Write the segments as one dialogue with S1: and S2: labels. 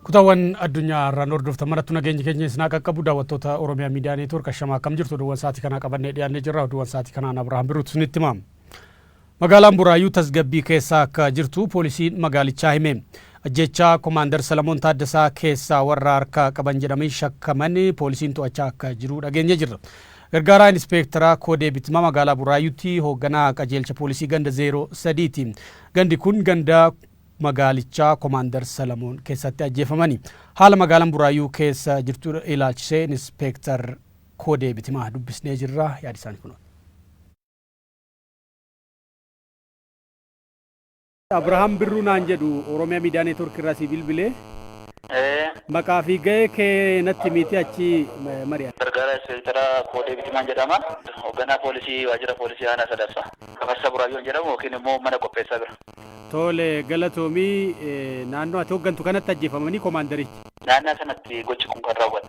S1: Kutaawwan addunyaa irraan hordoftan marattu nageenyi keenya isin haa qaqqabu daawwattoota Oromiyaa Miidiyaa Neetwoork ashamaa akkam jirtu oduuwwan sa'aatii kanaa qabannee dhiyaannee jirra oduuwwan sa'aatii kanaan Abirahaam Biruutu isinitti hima. Magaalaan Buraayyuu tasgabbii keessa akka jirtu poolisiin magaalichaa hime. Ajjeechaa Komaandar Salamoon Taaddasaa keessaa warra harka qaban jedhamin shakkaman poolisiin to'achaa akka jiru dhageenye jirra. Gargaaraa Inispeektaraa Koodee Bitma magaalaa Buraayyuutti hoogganaa qajeelcha poolisii ganda 03 ti. Gandi kun ganda magaalichaa Komaandar Salamoon keessatti ajjeefamani. Haala magaalan Buraayyuu keessa jirtu ilaalchisee Inispeektar Koodee Bitimaa dubbisnee jirra. Yaadi isaanii kunooti. Abraham Birruu naan jedhu Oromia Media Network irraa sii bilbilee. Ee. Maqaa fi gahee kee natti himiitii achii mari'anna. Gargaaraa Ispeektaraa
S2: Koodee Bitimaan jedhama. Hogganaa Poolisii Waajjira Poolisii Aanaa Sadaffaa. Gafarsaa Buraayyoon jedhamu yookiin immoo mana qopheessaa bira. Tole,
S1: galatoomi. Naannoo ati hoggantu kanatti ajjeefamanii komaandarichi. Naannaa sanatti
S2: gochi kun kan raawwate.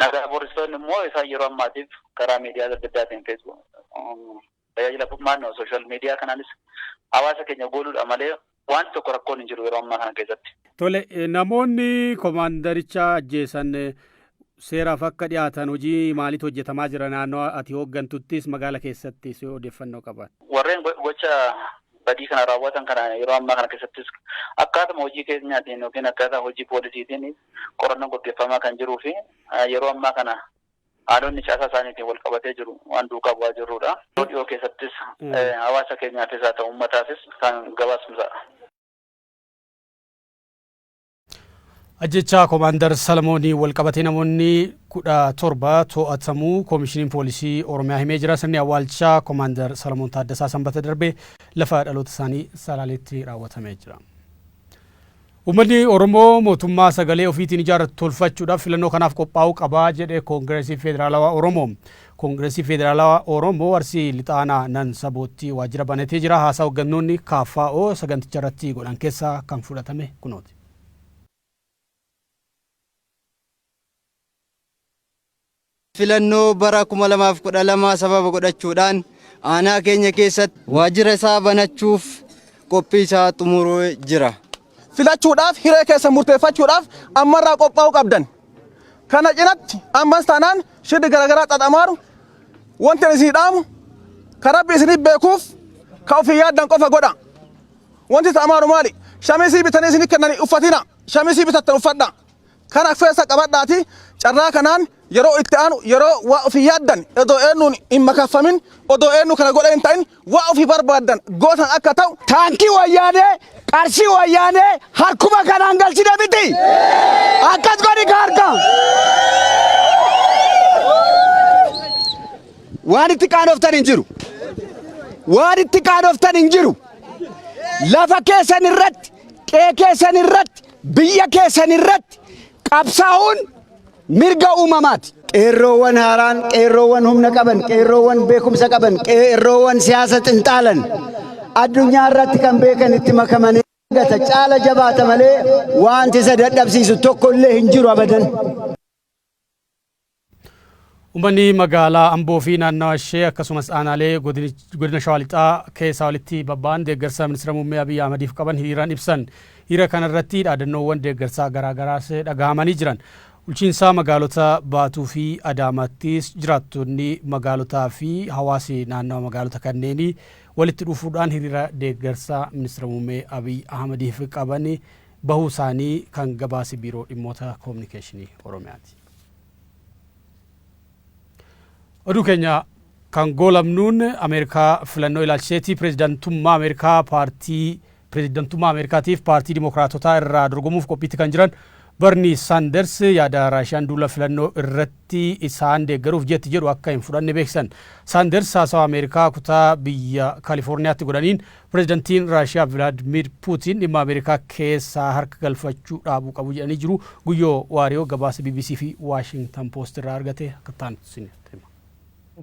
S2: Nagaa boorsistoonni immoo isaan yeroo ammaatiif karaa miidiyaa adda addaatiin tajaajila furmaanni social media kanaanis hawaasa keenya gooluudha malee wanti tokko rakkoon hin jiru yeroo ammaa kana keessatti. Tole namoonni
S1: komaandaricha ajjeesan seeraaf akka dhiyaatan hojii maaliitu hojjetamaa jira naannoo ati hooggantuttis magaala keessattis odeeffannoo qaban. Warreen gocha
S2: badii kana raawwatan kana yeroo ammaa kana keessattis akkaatuma hojii keenyaatiin yookiin akkaataa hojii poolisiitiin qorannoon gaggeeffamaa kan jiruu fi yeroo ammaa kana haalonni caasaa isaaniitiin wal qabatee jiru waan duukaa bu'aa jirruudha. Yeroo dhiyoo keessattis hawaasa keenyaafis haa ta'u uummataafis kan gabaasnu ta'a.
S1: Ajjechaa Komaandar Salamoonii wal qabatee namoonni kudha torba to'atamuu Koomishiniin Poolisii Oromiyaa himee jira. Sirni awwaalchaa Komaandar Salamoon Taaddasaa Sanbata darbe lafa dhaloota isaanii Salaaleetti raawwatamee jira. Uummanni Oromoo mootummaa sagalee ofiitiin ijaarratu tolfachuudhaaf filannoo kanaaf qophaa'uu qaba jedhe Koongireesii Federaalawaa Oromoo. Koongireesii Federaalawaa Oromoo Arsii Lixaanaa Nan Saboottii waajjira banatee jira. Haasaa hoggannoonni KFO saganticharratti godhan keessaa kan fudhatame kunooti.
S3: Filannoo bara 2012 sababa godhachuudhaan aanaa keenya keessatti waajjira isaa banachuuf qophii isaa xumuree jira. Filachuudhaaf
S4: hiree keessan murteeffachuudhaaf ammarraa qophaa'uu qabdan. Kana cinatti ammas taanaan shirri garagaraa xaxamaaru wanti ani isinii dhaamu ka Rabbi isiniif beekuuf ka ofii yaaddan qofa godha. Wanti ta'amaaru maali? Shamisii bitanii isinii kennanii uffatina. Shamisii bitattan uffadha. Kana keessa qabadhaati carraa kanaan yeroo itti aanu yeroo waa ofii yaaddan odoo eennuun hin makaffamin odoo eennu kana godhe hin ta'in waa ofii barbaaddan gootan akka ta'u Taankii wayyaanee
S5: qarshii wayyaanee harkuma kanaan galchine miti. Akkas godhi ka harka. Waan itti qaanoftan hin jiru. Waan itti qaanoftan hin jiru. Lafa keessan irratti, qe'ee keessan irratti, Biyya keessan irratti qabsaa'uun mirga uumamaati. Qeerroowwan haaraan,
S3: qeerroowwan humna qaban, qeerroowwan beekumsa qaban, qeerroowwan siyaasa xinxaalan addunyaa irratti kan beekan itti makamanii argata caala jabaata malee wanti isa dadhabsiisu tokko illee hin jiru abadan.
S1: Ummanni magaalaa Amboo fi naannawa ishee akkasumas aanaalee godina Shawaa Lixaa keessaa walitti babba'an deeggarsa Ministira Muummee Abiy Ahmadiif qaban hiriiraan ibsan. Hiriira kana irratti dhaadannoowwan deeggarsaa garaa garaas dhagahamanii jiran. Bulchiinsa magaalota Baatuu fi Adaamaattis jiraattonni magaalotaa fi hawaasi naannawa magaalota kanneenii walitti dhufuudhaan hiriira deeggarsa Ministira Muummee Abiy Ahmadiif qaban bahuu isaanii kan gabaase Biiroo Dhimmoota Kominikeeshinii Oromiyaati. Oduu keenya kan goolabnuun Ameerikaa filannoo ilaalchiseeti pireezidantummaa Ameerikaa paartii pireezidantummaa Ameerikaatiif paartii Dimookiraatotaa irraa dorgomuuf qophiitti kan jiran Barnii Saanders yaada Raashiyaan duula filannoo irratti isaan deeggaruuf jetti jedhu akka hin fudhanne beeksisan. Saanders haasawa Ameerikaa kutaa biyya Kaalifoorniyaatti godhaniin Pirezidantiin Raashiyaa Vilaadmiir Puutiin dhimma Ameerikaa keessa harka galfachuu dhaabuu qabu jedhanii jiru. Guyyoo Waariyoo gabaasa bbc fi Waashingtan Poost irraa argate akka itti aanutti isinitti hima.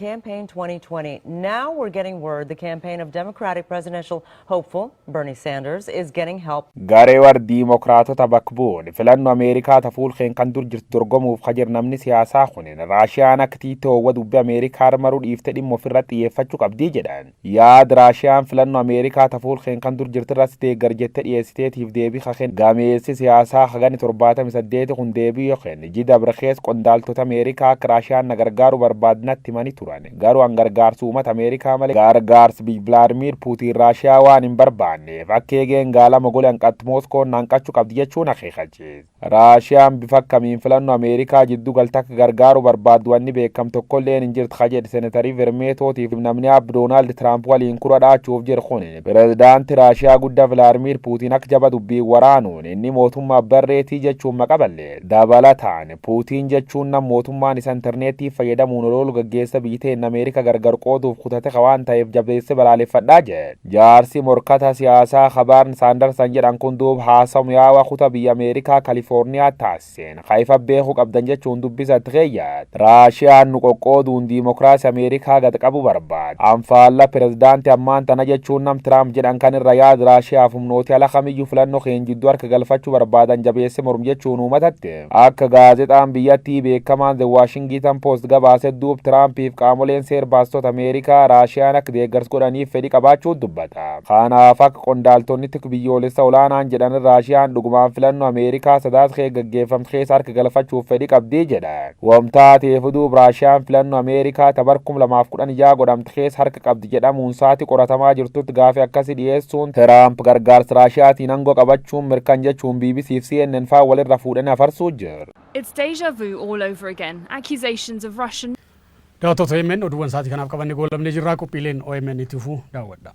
S1: campaign
S6: 2020. Now we're getting word the campaign of Democratic presidential hopeful Bernie Sanders is getting help Garee war
S7: Diimokiraatota bakka bu'uun filanno Ameerikaa ta fuulkeen kan dur jirtu dorgomuuf ka jir namni siyaasaa kunin Raashiyaan akka tiitoo wa dubbi Ameerikaa maruu dhiifte dhimma ofirratti xiyyeeffachuu qabdii jedhan. Yaad Raashiyaan filanno Ameerikaa ta fuul keen kan dur jirti irratti deeggar jette dhiyeessiteetiif deebii ka kenne gameessi siyaasaa ka ganni 78 kun deebii yo kenne ji dabre keessa qondaaltoti Ameerikaa akka Raashiyaan na gargaaru barbaaddi natti himani turan garuu an gargaarsi uumata Ameerikaa malee gargaarsi biyyi Vilaadmiir Puutiin Raashiyaa waan hin barbaanneef akka eegeen gaalama gole hanqatti Mooskoon na hanqachu qabdi jechuun akeekachiise. Raashiyaan bifa akkamiin filannoo Ameerikaa jiddu galte akka gargaaru barbaaddu wanni beekam tokkolleen hin jirtu ka jedhe Senetarii Vermeetootiif namni aab Doonaald Tiraamp waliin kura dhaachuuf jiru kun pirezidaanti Raashiyaa gudda Vilaadmiir Puutiin akka jaba dubbiin waraanuun inni mootummaa barreetii jechuun maqa ballee dabalataan Puutiin jechuun nam mootummaan isa interneettii fayyadamuun oloolu gaggeessa biyyi teenna Ameerika gargar qooduuf kutate ka waan taheef jabeesse balaaleffadhaa jedhe. Jaarsi morkata siyaasaa ka Barn Sanderson jedhan kun duub haasaw mi'aawa kuta biyya Ameerikaa Kaliforniyaa taassiseen ka ifa beeku qabdan jechuun dubbisa tkeeyyat. Raashiyaan nu qoqqooduun diimokiraasi Ameerikaa gad qabu barbaad. An faalla pirezidaanti ammaan tana jechuun nam Tiraamp jedhan kan irra yaad Raashiyaaf humnooti ala kamiyyu filanno keen jiddu harka galfachu barbaadan jabeesse morm jechuun uumatatt. Akka gaazexaan biyyattii beekamaan The Washington Post gabaase duub Tiraampiif qaamoleen seer baastota Ameerikaa Raashiyaan akka deeggars godhaniif fedhi qabaachuu dubbata. Kanaaf akka qondaaltonni tik biyyoolessa olaanaan jedhan Raashiyaan dhugumaan filannoo Ameerikaa Sadaasa keessa gaggeeffamtu keessa harka galfachuuf fedhi qabdi jedhan. Wam taateefu duub Raashiyaan filannoo Ameerikaa ta bar 2016 godhamte keessa harka qabdi. West jedhamuun saati qoratamaa jirtutti gaafi akkasi dhiyeessuun Tiraamp gargaarsa Raashiyaatiin ango qabachuun mirkan jechuun bbc fi CNN faa wal irra fuudhani afarsuu jira. It's deja vu
S8: all over again, accusations of Russian.
S1: Daawwattoota omn oduuwwan sa'aatii kanaaf qabanne goolabnee jirra. Qophiileen omn itti fufuu daawwadha.